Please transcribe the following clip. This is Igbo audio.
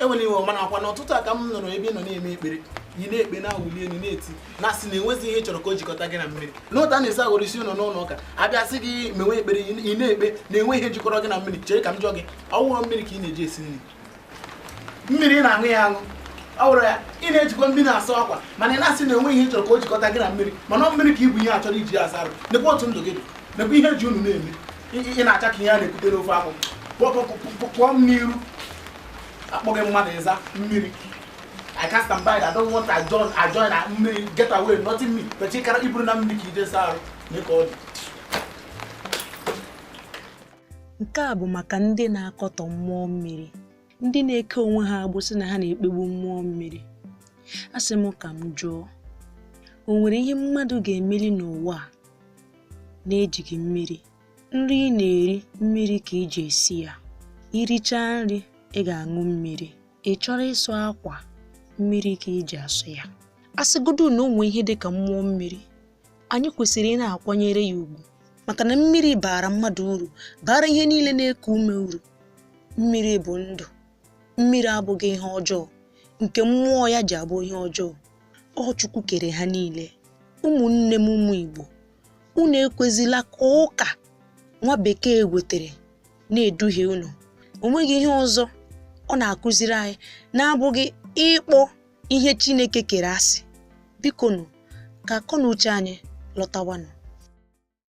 enwere iwe mana ọ kwa n'ụtụtụ a ka m nụrụ ebe ị nọ na-eme ekpere ị na-ekpe na-awụli elu na-eti na asị na enwezi ihe ị chọrọ ka o jikọta gị na mmiri n'otu a na-esi aghọrọ isi unu n'ụlọ ụka a bịa sị gị mewe ekpere ị na-ekpe na enwe ihe jikọrọ gị na mmiri chere ka m jụọ gị ọ wụrọ mmiri ka ị na-eji esi nri mmiri ị na-aṅụ ya aṅụ ọ wụrọ ya ị na-ejikwa mmiri na-asụ akwa mana ị na-asị na enwe ihe ị chọrọ ka o jikọta gị na mmiri mana ọ mmiri ka i bu ihe a chọrọ iji ya asa arụ nekwa otu ndụ gị dị nekwa ihe ji unu na-eme ị na-acha ka ihe a na-ekute n'ofe akwụ pụọ m n'iru a kpọọ gị mmadụ ị za mmiri I cast and bind I don't want to join I join na mmiri get away nothing me pechi kara i buru na mmiri ka i je saa arụ mee ka ọ dị nke a bụ maka ndị na-akọtọ mmụọ mmiri ndị na-eke onwe ha agbụ sị na ha na-ekpegbu mmụọ mmiri a sị m ka m jụọ o nwere ihe mmadụ ga-emeli n'ụwa a na-ejighị mmiri nri ị na-eri mmiri ka ị ji esi ya i richaa nri ị ga-aṅụ mmiri ị chọrọ ịsụ akwa mmiri ka ị ji asụ ya a sịgodu na o nwe ihe dị ka mmụọ mmiri anyị kwesịrị ị na-akwanyere ya ugwu maka na mmiri baara mmadụ uru baara ihe niile na-eku ume uru mmiri bụ ndụ mmiri abụghị ihe ọjọọ nke mmụọ ya ji abụ ihe ọjọọ ọ Chukwu kere ha niile ụmụnne m ụmụ Igbo unu ekwezila ka ụka nwa bekee wetere na-eduhie unu o nweghị ihe ọzọ ọ na-akụziri anyị na-abụghị ịkpọ ihe Chineke kere asị biko nụ ka akọ na uche anyị lọtawanụ